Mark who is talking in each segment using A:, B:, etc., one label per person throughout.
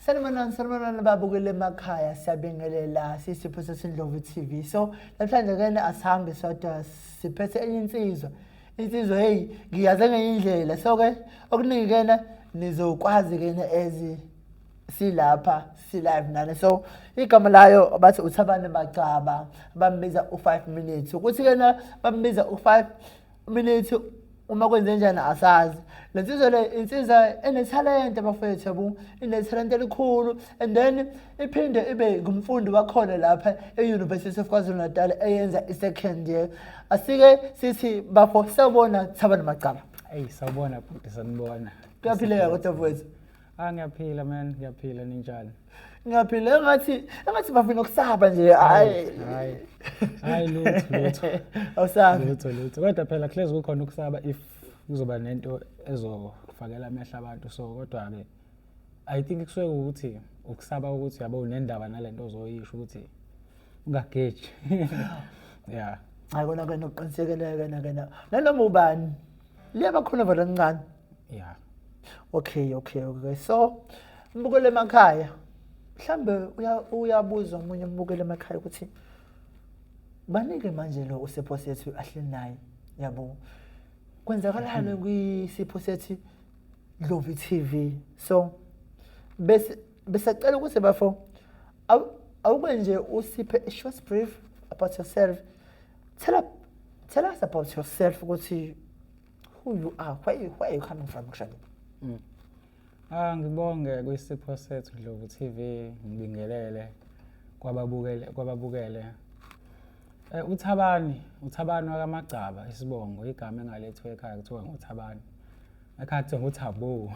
A: Sanibonani, sanibonani babukele emakhaya siyabingelela sisipho sesindlovu TV. So namhlanje kena asihambe sodwa siphethe enye insizwa. Insizwa hey ngiyaze ngenye indlela. So ke okuningi kena nizokwazi kena ezi silapha silive nani so igama layo bathi uthabane magcaba bambiza u-five minutes ukuthi kena bambiza u-five Umilithi uma kwenzenjani asazi le nsizwa le insizwa enethalente bafethu yabo inethalente elikhulu and then iphinde ibe ngumfundi wakhona lapha e-university of kwazulu natal eyenza i-second year asike sithi bafo sawubona sawubona macala eyi sawubona
B: bhuti sanibona kuyaphileka kodwa
A: mfowethu Ah ngiyaphila
B: man, ngiyaphila ninjani? Ngiyaphila
A: engathi engathi bafuna ukusaba nje. Hayi. Hayi. Hayi lutho lutho.
B: Awusabi. Lutho
A: lutho. Kodwa phela
B: hlezi kukhona ukusaba if kuzoba nento ezofakela amehla abantu so kodwa ke I think kusuke ukuthi ukusaba ukuthi yabo unendaba nalento ozoyisho ukuthi ungageji. Yeah. Hayi kona
A: kena uqinisekele kena kena. Nanoma ubani. Liyabakhona vele kancane. yeah
B: okay
A: okay okay so mbukele emakhaya mhlambe uyabuza omunye umbukele emakhaya ukuthi banike manje lo usipho sethu ahleli naye yabo kwenzakalani mm-hmm. kwisipho sethu Dlovi TV so bese besacela ukuthi bafo awuke nje usiphe a short brief about yourself tell, tell us about yourself ukuthi who you are where you, where you coming from actually mm. ah ngibonge
B: kwisipho sethu Dlovu TV ngibingelele kwababukele kwababukele eh uthabani uthabani wakamagcaba isibongo igama engalethwe ekhaya kuthiwa nguthabani akhathi nguthabu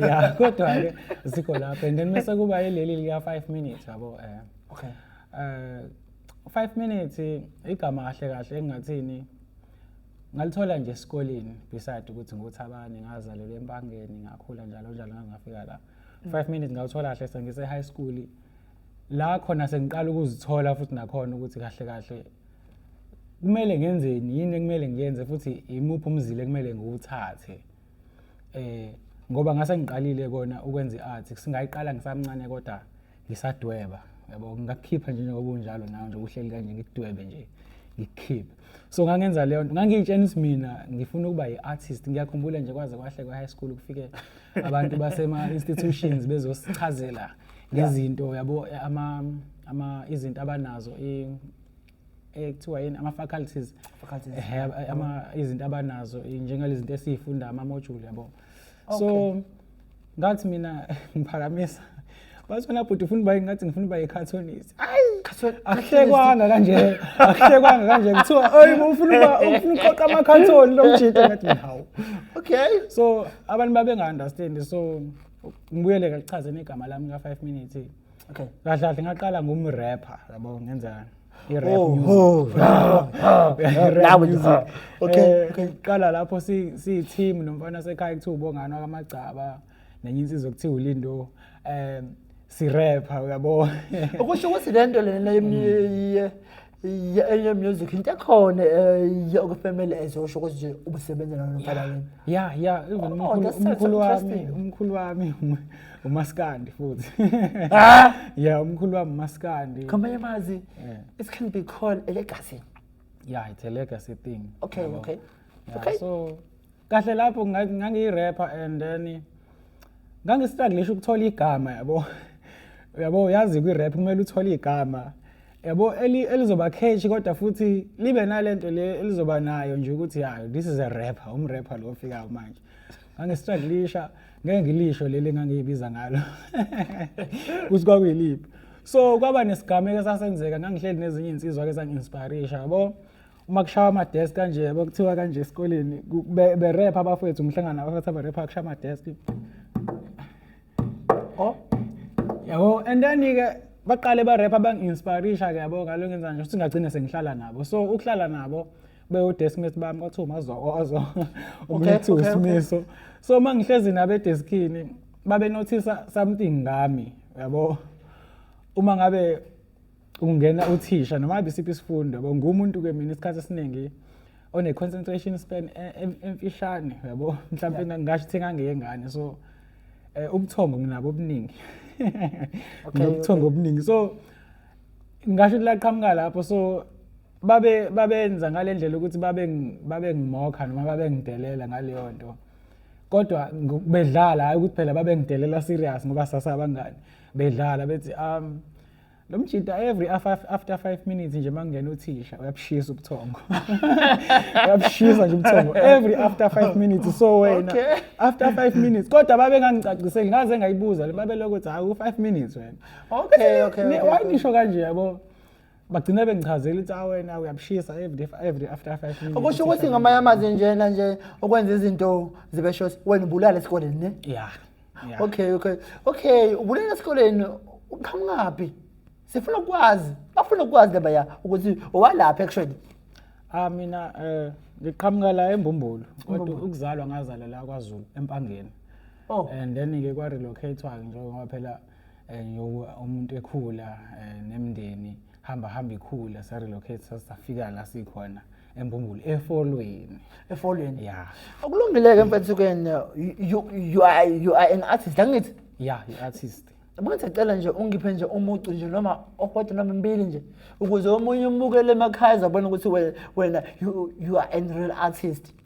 B: ya kodwa ke sikho lapho and then mase kuba yileli lika 5 minutes yabo eh okay eh 5 minutes igama kahle kahle engathini ngalithola nje esikoleni beside ukuthi nguthabani ngazalelwa empangeni ngakhula njalo njalo ngangafika la mm. five minutes ngawuthola kahle sengise-high school la khona sengiqala ukuzithola futhi nakhona ukuthi kahle kahle kumele ngenzeni yini ekumele ngiyenze futhi imuphi umzile kumele ngiwuthathe eh ngoba ngase ngiqalile kona ukwenza i-art singayiqala ngisamncane kodwa ngisadweba yabo ngakukhipha nje njengoba unjalo nawe nje uhleli kanje ngikudwebe nje ngikukhiphe so ngangenza leyo nto ngangiyitshena ukuthi mina ngifuna ukuba yi-artist ngiyakhumbula nje kwaze kwahle kwa-high school kufike abantu basema-institutions bezosichazela ngezinto yabo ama ama izinto abanazo ekuthiwa yini ama-faculties eh, ama izinto abanazo njengalezi zinto esiyifunda ama-module yabo so okay. ngathi mina ngiphakamisa bathi wena bhuti ufuna uba ngathi ngifuna uba yicartonist ayi akuhlekwanga kanje akuhlekwanga kanje kuthiwa oyi ufuna uba ufuna uqoqa ama-carton lo mjita ngathi hawu okay so
A: abantu
B: babenga-understand so ngibuyele kakuchaze negama lami ka-five minutes okay kahle kahle
A: ngaqala
B: ngumrapper yabo ngenzani i-rap Oh, music. oh, ah, ah, ah, Rap nawe nje, music. ah, okay, Eh, okay. qala lapho si- siyi-team nomfana sekhaya kuthiwa ubongani wakamagcaba nenye insizwa kuthiwa ulindo um sirepha uyabo Okusho ukuthi
A: lento lena yemnye Ya- enye music into ekhona um yokufemela ezosho ukuthi nje ubusebenza nalo mfalaleni ya ya even Oh,
B: umkhulu- that's so umkhulu wami interesting. umkhulu wami um- umaskandi futhi Ah! ya umkhulu wami umaskandi ngamanye amazi
A: Yeah. it can be called a legacy ya it's a
B: legacy thing okay yabo. okay Yeah,
A: okay so
B: kahle lapho nga- ngangiyirapper and then ngangistruglisha ukuthola igama yabo yabo uyazi kwi-rap kumele uthole igama yabo elizoba catch kodwa futhi libe nalento le elizoba nayo nje ukuthi hayo this is a rapper umrapper lo ofikayo manje ngangistruglisha ngeke ngilisho leli ngangiyibiza ngalo ukuthi kwakuyiliphi so kwaba nesigameko esasenzeka ngangihleli nezinye iy'nsizwa-ke zangi-inspirisha yabo uma kushawa amadesk kanje yabo kuthiwa kanje esikoleni berep abafowethu umhlangano abafethu aberep akushawa amadesk o yabo and then-ke baqale barep abangi-inspirisha ke yabo ngalo ngenza nje ukuthi ngagcine sengihlala nabo so ukuhlala nabo bewudeskmate bami kwathiwa umazokozo umlethu usimiso so uma ngihlezi nabo edeskini babenothisa something ngami yabo uma ngabe kungena uthisha noma ngabe isiphi isifundo yabo ngumuntu ke mina isikhathi esiningi one concentration span e- e- emfishane yabo mhlawumbe Yeah. ngasho ukuthi ngangeyengane so eh, ubuthongo nginabo obuningi Okay, nobuthongo obuningi so ngasho ukuthi laqhamuka lapho so babe babenza ngalendlela ukuthi babe ngi- babe ngimokha noma babe ngidelela ngaleyo nto kodwa ngo- bedlala hayi ukuthi phela babe ngidelela serious ngoba sasabangani bedlala bethi um lo mjita every after five minutes nje makungena uthisha uyabushisa ubuthongo uyabushisa nje ubuthongo every after five minutes so wena okay. after five minutes kodwa babengangicaciseli ngaze ngayibuza le babeloko ukuthi hawu five minutes wena okay okay, okay,
A: okay. why nisho
B: kanje yabo bagcina bengichazela ukuthi awena ah, uyabushisa every after five minutes okusho ukuthi ngamanye amazwi
A: njena nje okwenza izinto zibe short wena ubulala esikoleni ne ya
B: okay okay
A: okay ubulala esikoleni uqhamukaphi sifuna ukwazi bafuna ukwazi laba ya ukuthi owalapha actually ah mina
B: eh ngiqhamuka la embumbulu kodwa ukuzalwa ngazala la kwaZulu empangeni oh and then ke kwa relocate wa nje ngoba phela eh, umuntu ekhula eh, nemndeni hamba hamba ikhula sa relocate sasafika la sikhona embumbulu efolweni efolweni ya okulungileke
A: mfethukeni you you are you are an artist angithi ya you artist
B: Manje cela nje
A: ungiphe nje umucu nje noma okwethu noma mbili nje ukuze omunye umukele emakhaya azabona ukuthi wena you you are a real artist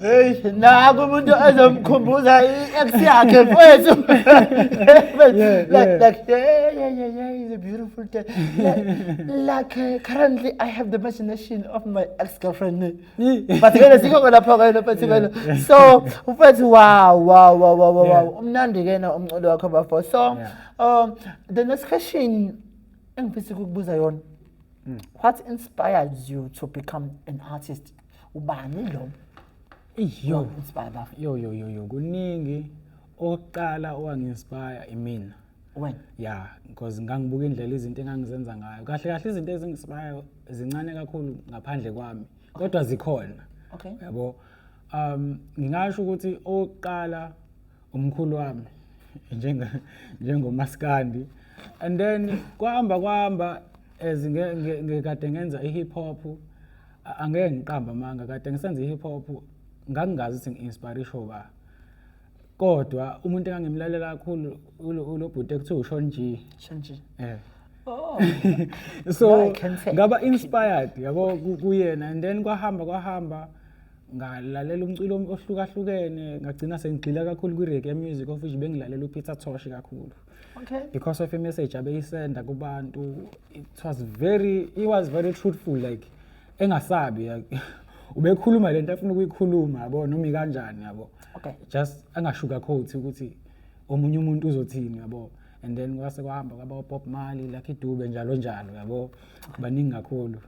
A: Hey, naku umuntu ozomkhumbuza i-ex yakhe mfowethu. Yeah, like, yeah. like, yeah, yeah, yeah, yeah, he's a beautiful day. Like, like uh, currently I have the imagination of my ex-girlfriend. But kena sikho kona pho kena mfowethu kena. So, mfowethu wow, wow, wow, wow, wow, wow. Yeah. Umnandi kena umculo wakho bafo. So, Yeah. um the next question engifisa ukukubuza yona. Hmm. What inspires you to become an artist? ubani lo yo
B: inspire bafo yo yo yo yo kuningi oqala owanginspire imina wena ya
A: because
B: ngangibuka indlela izinto engangizenza ngayo kahle kahle izinto ezinginspire zincane kakhulu ngaphandle kwami kodwa zikhona okay yabo um ngingasho ukuthi oqala umkhulu wami njenga njengomaskandi and then kwahamba kwahamba as ngekade ngenza i-hip hop angeke ngiqamba amanga kade ngisenza i-hip hop ngangingazi ukuthi ngi-inspire isho ba kodwa umuntu engangimlalela kakhulu ulo bhuti ekuthiwa ushon g shon g eh Oh. so ngaba inspired yabo kuyena and then kwahamba kwahamba ngalalela umculo ohlukahlukene ngagcina sengigxila kakhulu kwi-reggae music of which bengilalela upeter tosh kakhulu okay because
A: of a message
B: abeyisenda kubantu it was very it was very truthful like engasabi ubekhuluma lento afuna ukuyikhuluma yabo noma ikanjani yabo okay just
A: angashuka
B: coat ukuthi omunye umuntu uzothini yabo and then kwase kwahamba kwaba Bob Marley Lucky Dube njalo njalo yabo baningi kakhulu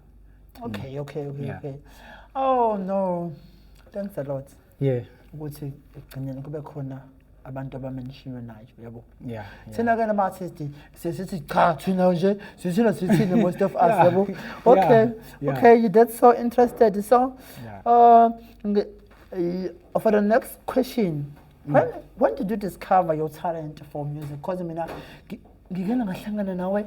B: okay
A: okay okay, yeah. okay oh no thanks a lot yeah ukuthi ekugcineni kube khona abantu abamenishiywe nayo yabo yeah thina ke
B: nama artist
A: sesithi cha thina nje sithina sithina most of us yabo
B: okay
A: okay you
B: that's so
A: interested so uh for the next question mm. when when did you discover your talent for music because mina ngike ngahlangana nawe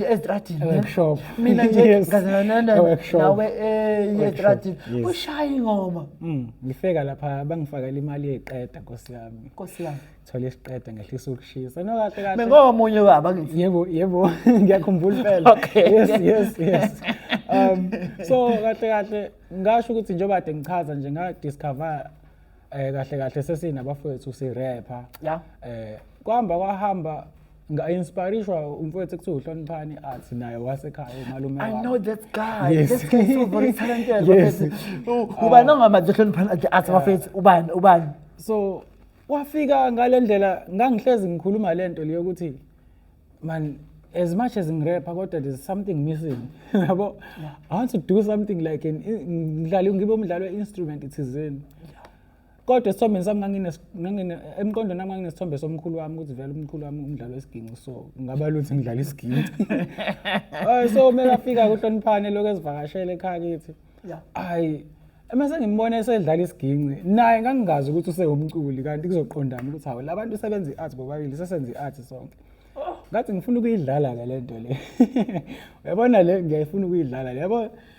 A: estradini workshop mina nje
B: Yes.
A: ngazanana A workshop. nawe eh Workshop, estradini yes. ushaya ingoma Mm, ngifika lapha
B: bangifakela imali yeqeda nkosi yami Nkosi yami thola isiqeda ngehlisa ukushisa no kahle kahle bengomunye baba ngithi
A: yebo yebo
B: ngiyakhumbula impela Okay. yes yes
A: yes
B: um so kahle kahle ngasho ukuthi njengoba kade ngichaza nje nga discover eh kahle kahle sesinabafowethu si rapper ya eh
A: kwahamba
B: kwahamba nga-inspirishwa umfowethu ekuthiwa uhloniphani athi naye wasekhaya umalume I know that
A: guy.
B: Yes.
A: This guy is so very talented. Yes. Bafethu,
B: u- Ubani
A: ongamanje hloniphana athi athi bafethu ubani ubani. so
B: wafika ngale ndlela ngangihlezi ngikhuluma le nto leyo ukuthi man as much as ngirepha kodwa there's something missing yabo i want to do something like an ngidlali ngibe umdlali we-instrument thizeni kodwa esithombeni sami emqondweni nami nganginesithombe somkhulu wami ukuthi vele umkhulu wami umdlalo wesiginci so ngaba luthi ngidlala isiginci so uma kafika kuhloniphane lokhu ezivakashele ekhaya kithi hayi uma sengimbona esedlala isiginci naye ngangingazi ukuthi usewumculi kanti kuzoqondana ukuthi hawu la bantu sebenza i-art bobabili sesenza i-art sonke oh. ngathi ngifuna ukuyidlala-ke le nto le uyabona le ngiyayifuna ukuyidlala le yabo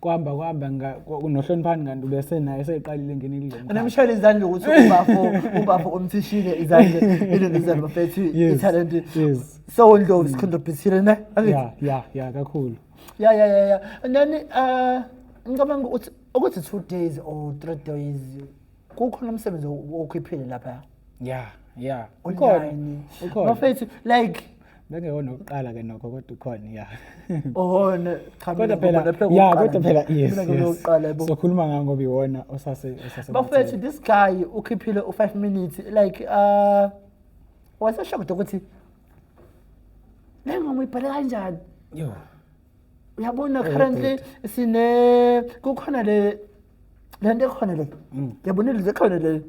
B: kwahamba kwahamba nga- kwa- nohloniphani kanti ubesenaye eseqalile ngene kulo mkhakha. Namshayela izandla ukuthi
A: ubafo ubafo umthishile izandla ilona izandla bafethu Yes, ithalente yes. so
B: ndlovu
A: sikhondobhisile ne Angithi? ya ya ya
B: kakhulu ya ya ya ya
A: nani uh ngicabanga ukuthi ukuthi two days or three days kukhona umsebenzi okhiphile lapha ya ya
B: ukhona
A: ukhona bafethu like bengeyona ukuqala
B: ke nokho kodwa ukhona ya oh ne
A: cha kodwa phela ya
B: kodwa phela yes sokhuluma ngayo ngoba iwona osase osase bafethu this
A: guy ukhiphile u5 minutes like uh waseshocked ukuthi le ngoma ibhale kanjani yo
B: uyabona
A: currently sine kukhona le le nto ekhona le yabona ilizwe ekhona le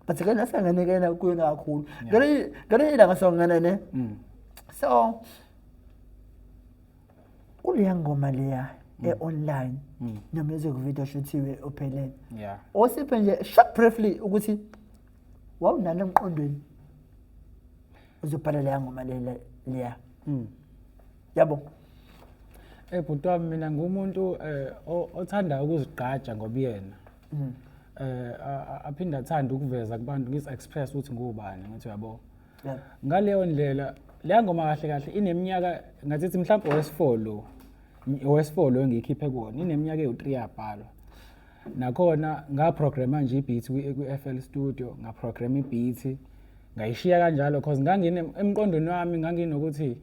A: but ke nasanganekela kuyo kakhulu ngale ngale ilanga songana ne so kuleya ngoma leya e-online ne-music video shuthiwe ophelele yeah osiphe
B: nje short
A: briefly ukuthi wawunani emqondweni uzobhala leya ngoma le- le- leya yabo
B: Eh bhuti wami mina ngumuntu eh o- othanda ukuzigqaja ngobuyena. Eh a- a- aphinde athanda ukuveza kubantu ngis express ukuthi ngubani ngithi yabo. Yeah. Ngaleyo ndlela leya ngoma kahle kahle ineminyaka ngathi ithi mhlawumbe owesifolo lo. Ngi- Owesifolo lo engiyikhiphe kuwona ineminyaka ewu3 yabhalwa. Nakhona ngaprograma nje ibeat kwi- kwi-FL Studio, ngaprograma ibeat ngayishiya kanjalo because ngangine emqondweni wami nganginokuthi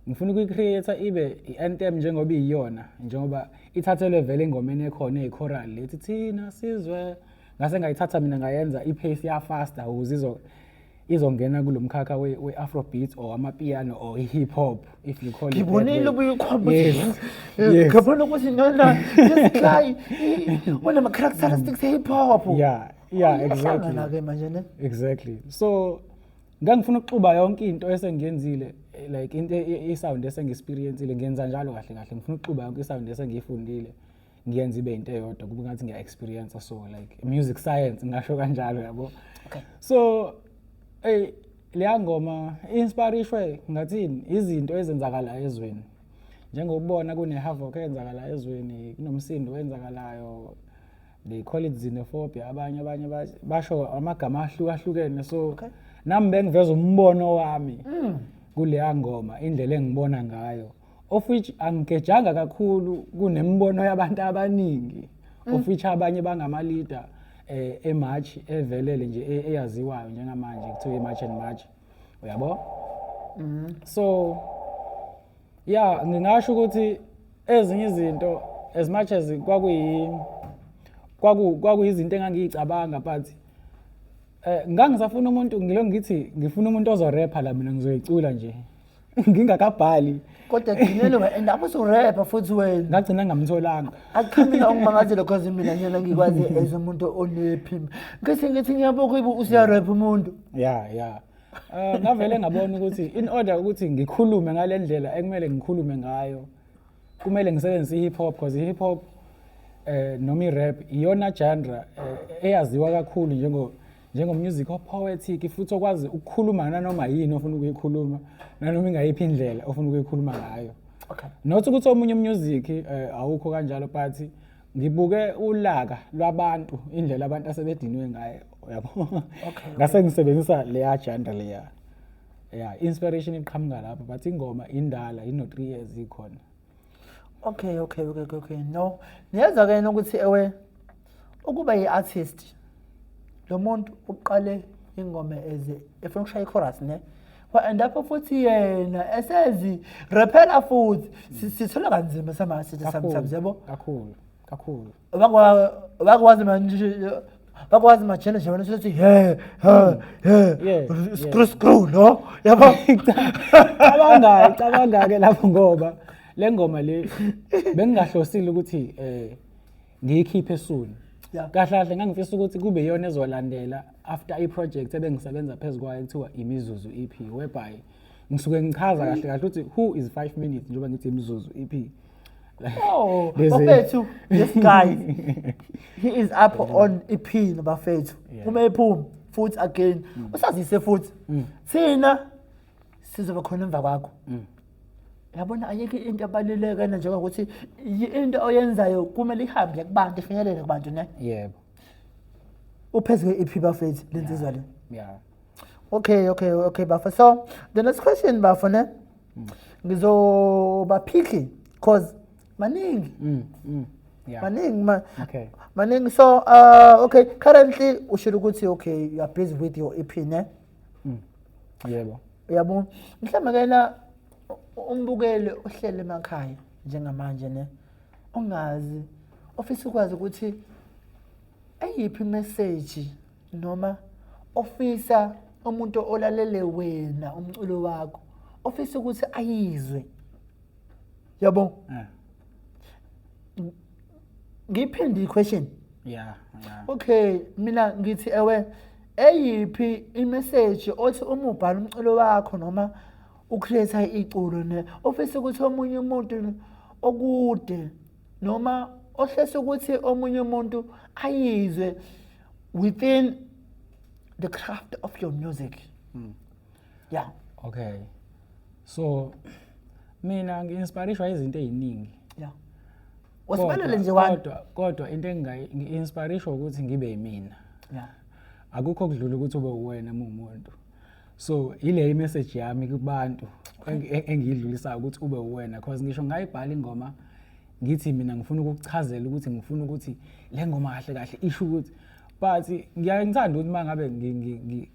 B: ngifuna ukuyi-create ibe i-anthem njengoba iyiyona njengoba ithathelwe vele engomeni ekhona eyi-choral lethi thina sizwe ngase ngayithatha mina ngayenza i-pace yafasta ukuze izongena kulo mkhakha we-afrobeat or amapiano or i-hip hop if you call ngibonile
A: ubuyikhombisngibona
B: ukuthi
A: nona isihlayi unama-characteristics e-hip hop yeah yeah
B: exactly manje ne exactly so ngangifuna ukuxuba yonke into esengiyenzile like into e, e, isound esengiexperiencile ngenza njalo kahle kahle ngifuna ukuxuba yonke isound esengiyifundile ngiyenza ibe into eyodwa kube ngathi ngiya experience so like music science ngasho kanjalo yabo okay. so ey leya ngoma inspirishwe ngathini izinto ezenzakala ezweni njengokubona kune havoc eyenzakala ezweni kunomsindo wenzakalayo they call it xenophobia abanye abanye basho amagama ahlukahlukene so okay. nami bengiveza umbono wami mm. kuleya ngoma indlela engibona ngayo of which angigejanga kakhulu kunemibono yabantu abaningi mm. of which abanye bangamaleader eh emarch evelele nje e-, eyaziwayo njengamanje kuthiwa imarch and march uyabo mhm. so ya ngingasho ukuthi ezinye izinto as much as kwakuyi kwakuyizinto engangiyicabanga but um ngangisafuna umuntu ngilo ngithi ngifuna umuntu ozorepha la mina ngizoyicula nje ngingakabhali kodwa gcinele
A: and apho surepha futhi wena ngagcina ngamtholanga
B: achiphila ongimangazile
A: because mina njena ngikwazi as umuntu onephimba ngise ngithi ngiyabokho ibu usiyarepha umuntu ya ya
B: eh, ngavele ngabona ukuthi in order ukuthi ngikhulume ngale ndlela ekumele ngikhulume ngayo kumele ngisebenzise i-hip hop because i-hip hop eh noma i-rap iyona genre eh, eyaziwa kakhulu njengo njengomusic opoetic futhi okwazi ukukhuluma nanoma yini ofuna ukuyikhuluma nanoma ingayiphi indlela ofuna ukuyikhuluma ngayo okay not ukuthi
A: omunye
B: umusic eh, awukho kanjalo but ngibuke ulaka lwabantu indlela abantu asebedinwe ngayo yabo okay ngase ngisebenzisa leya janda leya yeah inspiration iqhamuka lapho but ingoma indala ino 3 years ikhona okay
A: okay okay okay, okay. no niyezwa ke yena ukuthi ewe ukuba yi-artist lo muntu uqale ingoma eze efuna ukushaya ichorus ne and lapho futhi yena esezi rephela futhi sithola kanzima samasithi sometimes yabo kakhulu kakhulu vakwazi vakwazi majele nje wena sothi he he he screw screw no yabo cabanga
B: cabanga ke lapho ngoba le ngoma le bengingahlosile ukuthi eh ngiyikhiphe soon kahle kahle ngangifisa ukuthi kube yona ezolandela after i-project ebengisebenza phezu kwayo kuthiwa imizuzu EP whereby ngisuke ngichaza kahle kahle ukuthi who is 5 minutes njengoba ngithi imizuzu EP Oh, bafethu
A: this guy he is up on iphini bafethu. Uma ephuma futhi again mm. usazise futhi mm. thina sizoba khona emva kwakho. Mm. Yabona ayike into abaluleke njengoba ukuthi into oyenzayo kumele ihambe kubantu ifinyelele kubantu ne. Yebo. Uphezwe iphi bafethu lensizwa le? Yeah.
B: Okay, okay,
A: okay bafethu. So the next question bafethu ne. ngizobaphikhi cause maningi mm, mm.
B: Yeah. maningi ma
A: okay. maningi
B: so
A: uh, okay currently ushilo ukuthi okay you are busy with your ep ne mm.
B: yebo uyabo
A: mhlawumbe ke la umbukeli ohlele emakhaya njengamanje ne ongazi ofisa ukwazi ukuthi eyiphi message noma ofisa umuntu olalele wena umculo wakho ofisa ukuthi ayizwe yabo eh. ngiphinde i-question yeah, yeah.
B: okay
A: mina ngithi ewe eyiphi imeseji othi uma ubhala umculo wakho noma ucreate iculo ne ofisa ukuthi omunye umuntu okude noma ohlese ukuthi omunye umuntu ayizwe within the craft of your music mm. yeah okay
B: so mina ngi-inspirishwa izinto ey'ningi yeah
A: wasibalele nje kodwa kodwa into
B: engingayi-inspirishwa ukuthi ngibe yimina yeah
A: akukho
B: kudlula ukuthi ube uwena muwumuntu so ile message yami kubantu engiyidlulisayo ukuthi ube uwena because ngisho ngayibhala ingoma ngithi mina ngifuna ukukuchazela ukuthi ngifuna ukuthi le ngoma kahle kahle isho ukuthi but ngiyaye ngithanda ukuthi uma ngabe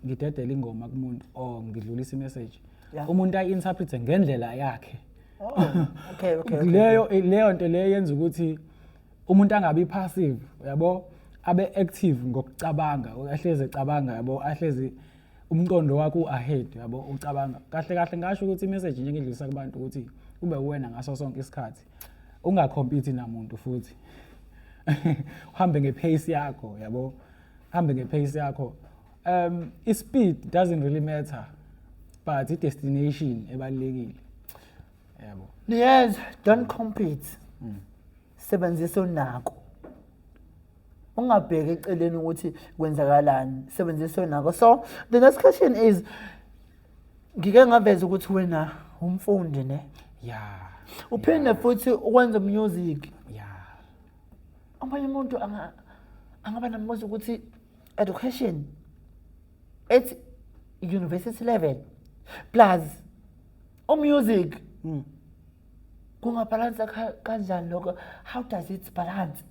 B: ngidedela ingoma kumuntu or ngidlulisa imessage umuntu ayi-interprete ngendlela yakhe
A: oh, leyo
B: leyo nto leyo yenza ukuthi umuntu angabi passive yabo abe active ngokucabanga ahlezi ecabanga yabo ahlezi umqondo wakho u-ahead yabo ucabanga kahle kahle ngasho ukuthi imessage nje ngidlulisa kubantu ukuthi kube uwena ngaso sonke isikhathi ungakhompiti namuntu futhi uhambe ngepace yakho yabo hambe ngepace yakho um ispeed doesn't really matter but i-destination ebalulekile yabo yes
A: don't compete mm. sebenzisa onako ungabheki eceleni ukuthi kwenzakalani sebenzisa onako so the next question is ngike ngaveza ukuthi wena umfundi ne yeah
B: uphinde
A: futhi ukwenza music
B: yeah
A: omunye umuntu anga angaba nambuzo ukuthi education at university level plus o music mm. kungabhalansa kanjani lokho how does it balance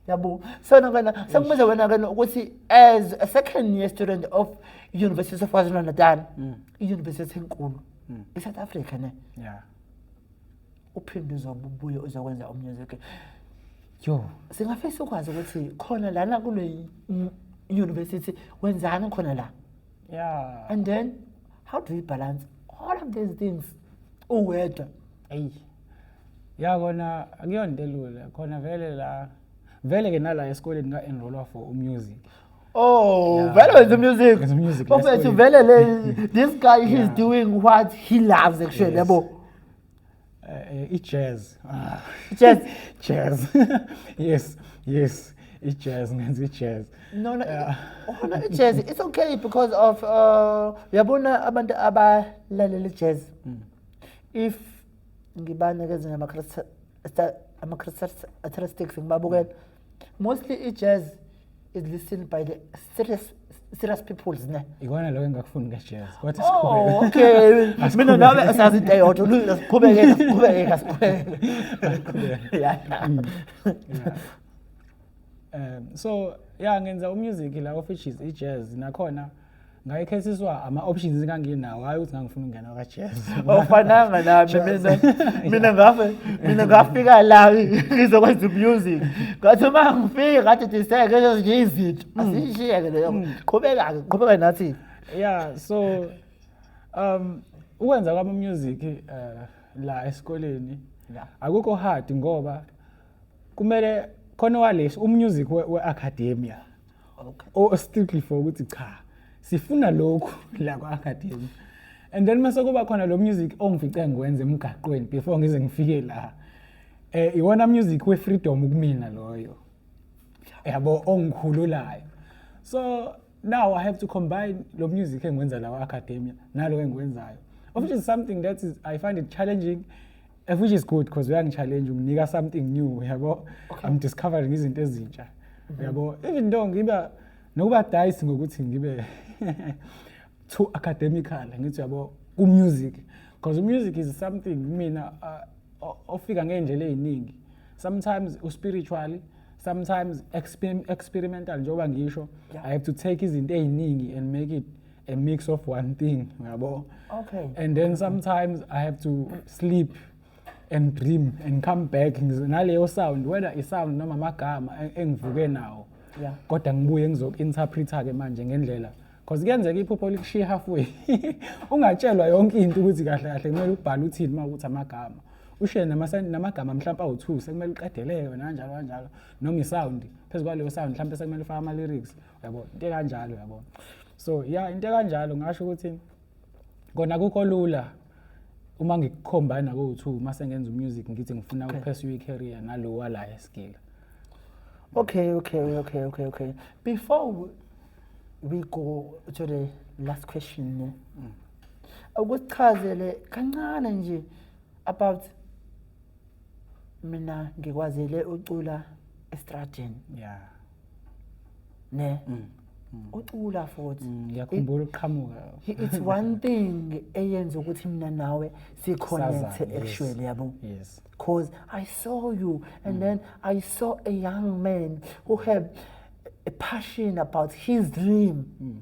A: yabo sona wena sekumbize wena ke ukuthi as a second year student of university of kwazulu natal mm. i-university enkulu mm. i-south
B: africa
A: ne yeah. uphinde uzobe ubuye uzokwenza omunye ke yo
B: singafisa
A: ukwazi ukuthi khona lana kule university wenzani khona la yeah
B: and then
A: how do you balance all of these things uwedwa eyi
B: ya kona akuyonto elula khona vele la vele ke nala esikoleni nga enrollwa for umusic Oh, yeah.
A: vele wenza music. Wenza music. Bafethu
B: vele le
A: this guy he's yeah. doing what he loves actually yabo. Yes. Eh, i-jazz
B: ah. jazz
A: jazz yes
B: yes i-jazz ngenza i-jazz no no
A: oh, no i-jazz it's okay because of uh, uyabona abantu abalalela i-jazz hmm. if ngibanikeza ama-characteristics ngibabukela mostly i-jazz is listened by the serious serious peoples ne ikona lokho engakufuni
B: ngejazz kodwa siqhubeke oh, okay
A: mina nawe asazi into eyodwa lula siqhubeke siqhubeke kasiqhubeke yeah mm.
B: um so yeah ngenza umusic la of which is i-jazz nakhona ngayekhethiswa ama-options enganginawo hhayi ukuthi ngangifuna ukungena kwajazz awufananga nami
A: mina mina ngafe mina ngafika la ngizokwenza umusic ngathi uma ngifike ngathi diseke ezinye izinto mm. asiyishiyeke leyo mm. qhubeka-ke qhubeka nathi ya so
B: um ukwenza kwami umusic um eh, la esikoleni akukho hard ngoba kumele khona waleso umusic we-academia okay. or oh, strictly for ukuthi cha sifuna lokhu la kwa-academy and then mase kuba khona lo music ongifice ngiwenze emgaqweni before ngize ngifike la eh iwona music we-freedom kumina loyo yabo ongikhululayo so now i have to combine lo music engiwenza la kwa-academia nalo engiwenzayo which is something that is, i find it challenging F which is good because uyangichallenge unginika something new yabo okay. I'm discovering izinto ezintsha mhm. yabo even though ngiba nokuba dice ngokuthi ngibe too academical ngithi yabo ku music because music is something mina uh, ofika ngeindlela eziningi sometimes u spiritually sometimes experimental njengoba ngisho yeah. i have to take izinto eziningi and make it a mix of one thing yabo okay and then
A: sometimes
B: i have to sleep and dream and come back naleyo sound whether i sound noma amagama engivuke nawo yeah kodwa ngibuye ngizoku-interpreta ke manje ngendlela because kuyenzeka iphupho likushiye halfway ungatshelwa yonke into ukuthi kahle kahle kumele ubhale uthini uma ukuthi amagama ushiye namagama mhlawumpe awu-two sekumele uqedeleke wena kanjalo kanjalo noma isound phezu kwaleyo sound mhlawumpe sekumele ufake ama-lyrics yabo into ekanjalo yabo so ya into ekanjalo ngasho ukuthi kona kukho lula uma ngikukhomba naku-two uma sengenza umusic ngithi ngifuna ukuphesue i-career nalowa la esigila okay okay
A: okay okay okay before we, we go to the last question ne mm. ukuchazele kancane nje about mina ngikwazele ucula estradini yeah ne mm. mm. ucula futhi mm, ngiyakhumbula uqhamuka
B: it's one
A: thing eyenza ukuthi mina nawe si connect actually yabo yes cause
B: i
A: saw you and mm. then i saw a young man who had a passion about his dream mm.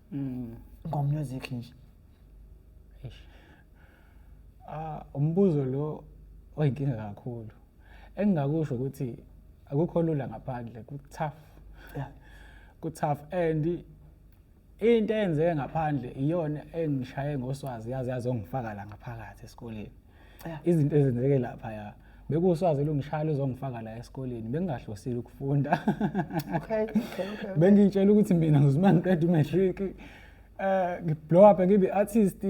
A: mm. ngomusic nje ah
B: umbuzo lo oyinkinga kakhulu engingakusho ukuthi akukho lula ngaphandle ku tough
A: ku tough
B: and into eyenzeke ngaphandle iyona engishaye ngoswazi yazi yazongifaka la ngaphakathi esikoleni izinto ezenzeke lapha ya bekuswazi lungishayela uzongifaka la esikoleni bengingahlosile ukufunda okay okay okay
A: bengitshela
B: ukuthi mina ngizuma ngiqeda umatric eh ngiblow up ngibe artist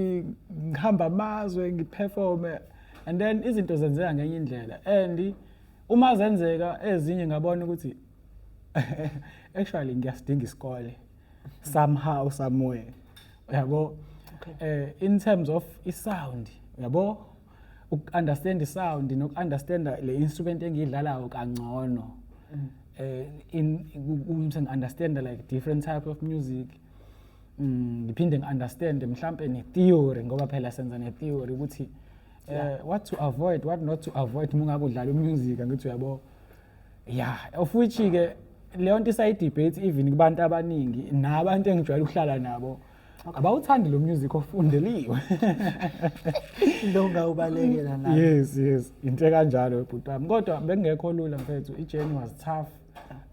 B: ngihamba amazwe ngiperforme and then izinto zenzeka ngenye indlela and uma zenzeka ezinye ngabona ukuthi actually ngiyasidinga isikole somehow somewhere yabo okay. eh in terms of i sound yabo ukunderstand i sound nokunderstand le instrument engiyidlalayo kangcono mm. eh in ukuthi understand like different type of music mm, ngiphinde mm, ngiunderstand mhlambe ne theory ngoba phela senza ne theory ukuthi eh what to avoid what not to avoid mungabe udlala umusic ngithi uyabo ya of which ke leyo nto isayi-debate even kubantu abaningi nabantu engijwayele ukuhlala nabo abawuthandi lo music ofundeliwe
A: lo ngawubalekela nayo yes yes into
B: kanjalo bhuti wami kodwa bekungekho lula mfethu i-journey was tough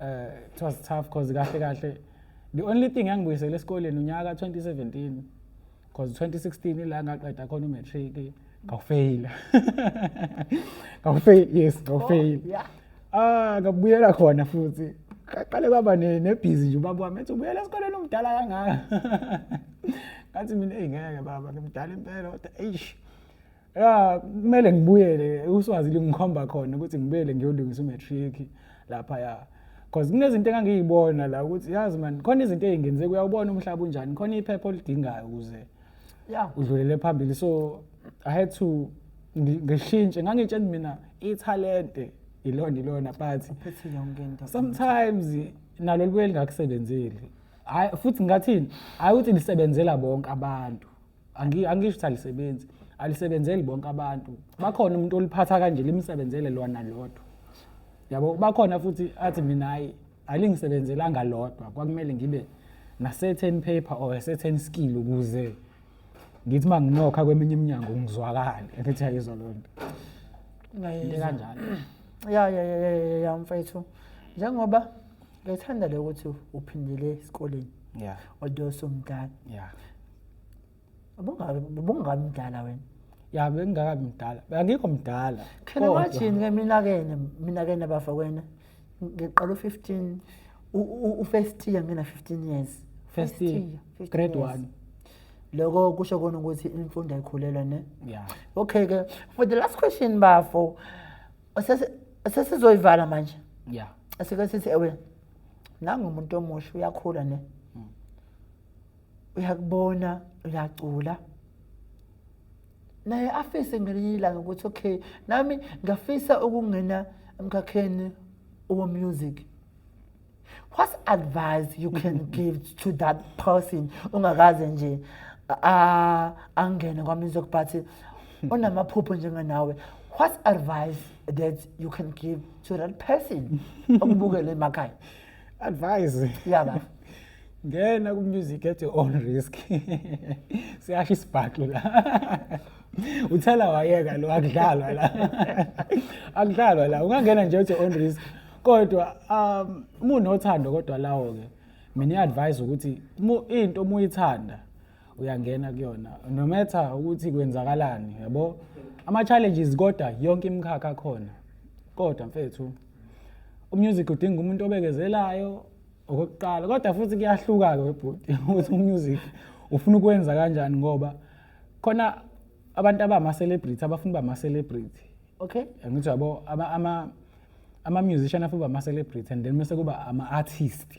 B: uh, it was tough because kahle kahle the only thing engibuyisele esikoleni unyaka 2017 because 2016 ila ngaqeda khona umatric ngawufeyila ngawufeyila yes ngawufeyila oh, yeah. ah ngabuyela khona futhi qale kwaba nebhizi nje ubaba wami ethi ubuyela esikoleni umdala kangaka ngathi mina eyi ngeke baba ngimdala impela kodwa eish ya kumele ngibuyele uswazi lingikhomba khona ukuthi ngibuyele ngiyolungisa umatric lapha ya because kunezinto engangiyibona la ukuthi yazi man khona izinto ezingenze kuyawubona umhlaba unjani khona iphepha olidingayo ukuze ya udlulele phambili so i had to ngishintshe ngangitshela mina ithalente ilona ilona but sometimes nalo libuye lingakusebenzeli hayi futhi ngathini hayi ukuthi lisebenzela bonke abantu Angi- angisho ukuthi alisebenzi alisebenzeli bonke abantu bakhona umuntu oliphatha kanje limsebenzele lona lodwa yabo bakhona futhi athi mina hayi alingisebenzelanga lodwa kwakumele ngibe na-certain paper or a certain skill ukuze ngithi uma nginokha kweminye iminyango ngizwakale ngithi ayizwa loo nto into Ngayizwa. ekanjalo ya ya
A: ya ya ya, ya mfethu njengoba ngithanda le ukuthi uphindele esikoleni ya although somdala ya ubungakabi mdala wena ya bengingakabi mdala
B: angikho mdala khena wathini ke
A: minakene minakene bafa kwena ngiqala u-15 u-first year ngina 15 years first year
B: grade 1 loko
A: kusho kona ukuthi imfundo ayikhulelwa ne yeah okay ke for the last question bafo sesizoyivala manje ya asike sithi ewe nangumuntu omusha uyakhula ne uyakubona uyacula naye afise ngelinye ilanga ukuthi okay nami ngafisa ukungena emkhakheni owomusic what advice you can give to that person ungakaze nje angene kwamusic but onamaphupho njengenawe what advice that you can give to that person okubukele emakhaya advise
B: yaba
A: ngena
B: ku music at your own risk siyasho isibhaxu la uthela wayeka lo akudlalwa la akudlalwa la ungangena nje at your own risk kodwa um umunothando kodwa lawo ke mina advise ukuthi into uma uyithanda uyangena kuyona no matter ukuthi kwenzakalani yabo ama challenges kodwa yonke imikhakha khona kodwa mfethu umusic udinga umuntu obekezelayo okokuqala kodwa futhi kuyahluka-ke webhuti ukuthi umusic ufuna ukwenza kanjani ngoba khona abantu abama-celebrity abafuna uba ma-celebrity okay angithi
A: yabo
B: ama-musician afuna uba ma-celebrity and then mese kuba ama-artist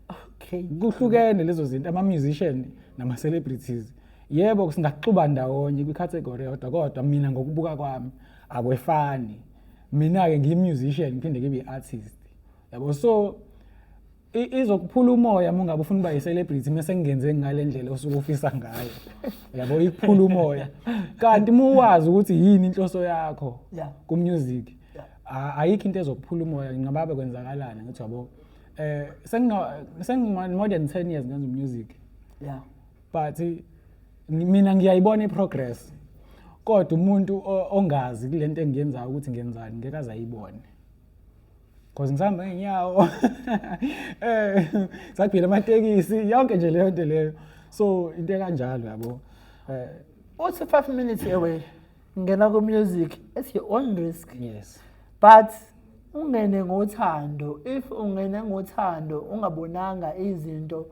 B: okay
A: kuhlukene lezo
B: zinto ama-musician nama-celebrities yebo singaxuba ndawonye kwi-category yodwa kodwa mina ngokubuka kwami akwefani mina-ke ngiyi-musician ngiphinde ngibe i-artist yabo so izokuphula umoya uma ungabe ufuna uba yi-celebrity uma sengingenze ngale ndlela osuke ufisa ngayo yabo ikuphula umoya kanti uma uwazi ukuthi yini inhloso yakho ku-music ayikho into ezokuphula umoya ngingababe kwenzakalani ngithi yabo um eh, sengi-more than ten years ngenza umusic yeah
A: but
B: mina ngiyayibona iprogress kodwa umuntu ongazi kule nto engiyenzayo ukuthi ngenzani ngeke aze ayibone because ngisahamba ngeenyawo um eh, sagibela amatekisi yonke nje leyo nto leyo so into ekanjalo yabo um eh,
A: uthi five minutes away ngena ku-music it's your own risk yes but ungene ngothando if ungene ngothando ungabonanga izinto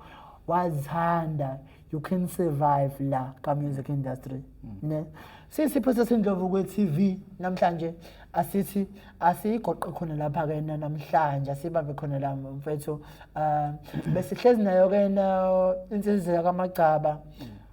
A: wazithanda you can survive la ka-music industry mm. ne sisipho sesindlovu kwe-tv namhlanje asithi asiyigoqe khona lapha kena namhlanje asibambe khona la mfethu um besihlezi nayo kena insizela kamagcaba mm.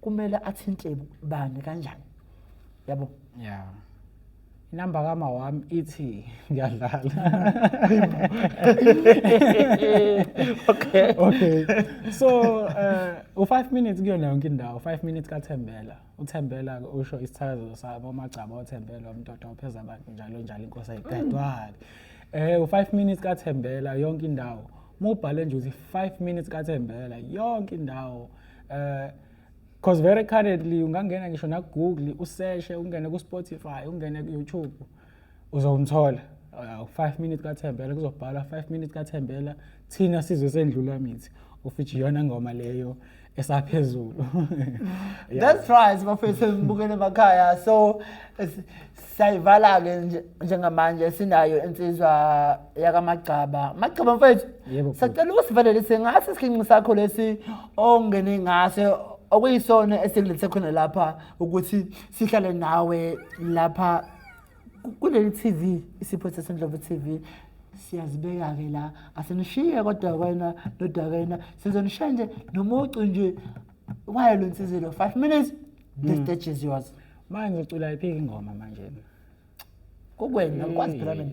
B: kumele
A: athinte bani kanjani yabo
B: yeah inamba kama wami ithi ngiyadlala okay okay so uh, u5 minutes kuyona yonke indawo 5 minutes kaThembela uThembela usho isithakazo sabo magcaba oThembela umtoto opheza abantu njalo njalo inkosi ayiqedwali eh u5 minutes kaThembela yonke indawo mubhale nje uthi 5 minutes kaThembela yonke indawo eh cause very currently ungangena ngisho na Google useshe ungene ku Spotify ungene ku YouTube uzomthola 5 uh, minutes kaThembela kuzobhala 5 minutes kaThembela thina sizwe sendlula mithi ufithi yona ngoma leyo esaphezulu
A: that's right bafethu sibukele emakhaya so siyayivala-ke nje- njengamanje sinayo insizwa yakamagcaba magcaba mfethu Yebo, bhuti. sacela ukusivalelise ngaso isigingqi sakho lesi ongene ngaso okuyisona esikulethe khona lapha ukuthi sihlale nawe lapha ku- kuleli tv isipho sesendlovu tv siyazibeka-ke la asinishiye kodwa kwena nodwa kwena sizonishiya nje nomucu nje wayo lo nsizilo five minutes the hmm. stage is yours manje ucula iphi
B: ingoma manje
A: kukwena ngikwazi phela mina